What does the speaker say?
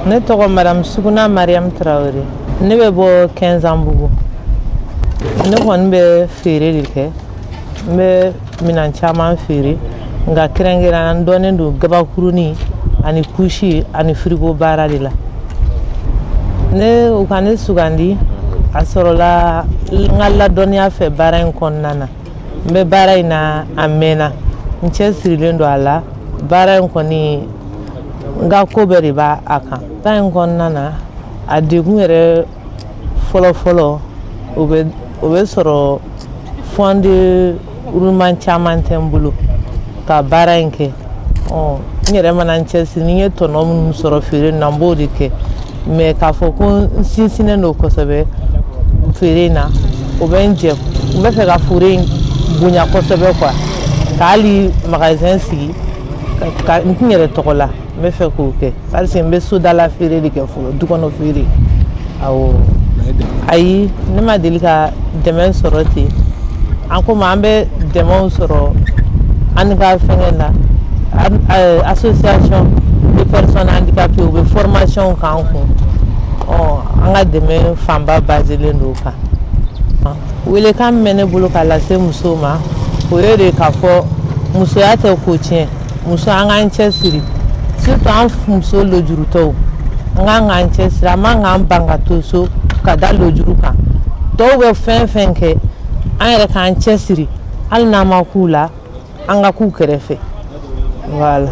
ne tɔgɔ madamu suguna mariyamu tarawele ne bɛ bɔ kɛnzanbugu ne kɔni bɛ feere de kɛ n bɛ minan caman feere nka kɛrɛnkɛrɛnya n dɔnnen don gabakurunin ani kusi ani firigo baara de la ne u ka ne sugandi a sɔrɔla n ka ladɔnniya fɛ baara in kɔnɔna na n bɛ baara in na a mɛɛnna n cɛsirilen don a la baara in kɔni n ka ko bɛɛ de b'a a kan ta in kɔnɔna na a degun yɛrɛ fɔlɔfɔlɔ o bɛ o bɛ sɔrɔ fonds de roulement caman tɛ n bolo ka baara in kɛ ɔ n yɛrɛ mana n cɛsiri ni n ye tɔnɔ minnu sɔrɔ feere na n b'o de kɛ mais k'a fɔ ko n sinsinnen don kosɛbɛ feere in na o bɛ n jɛ n bɛ fɛ ka feere in bonya kosɛbɛ quoi ka hali magasin sigi ka n tun yɛrɛ tɔgɔ la n bɛ fɛ k'o kɛ parce que n bɛ sodala feere de kɛ fɔlɔ du kɔnɔ feere awɔ ayi ne ma deli ka dɛmɛ sɔrɔ ten an ko an bɛ dɛmɛw sɔrɔ an ka fɛngɛ na eh, association de personnes handicapées u bɛ formationw k'an kun ɔ an ka dɛmɛ fanba baselen don o kan welekan min bɛ ne bolo ka lase musow ma o ye de k'a fɔ musoya tɛ ko tiɲɛ muso an k'an cɛsiri surtout an muso lojurutɔw an ka kan k'an cɛsiri an man kan k'an ban ka to so ka da lojuru kan tɔw bɛ fɛn fɛn kɛ an yɛrɛ k'an cɛsiri hali n'an ma kun u la an ka kun u kɛrɛfɛ voilà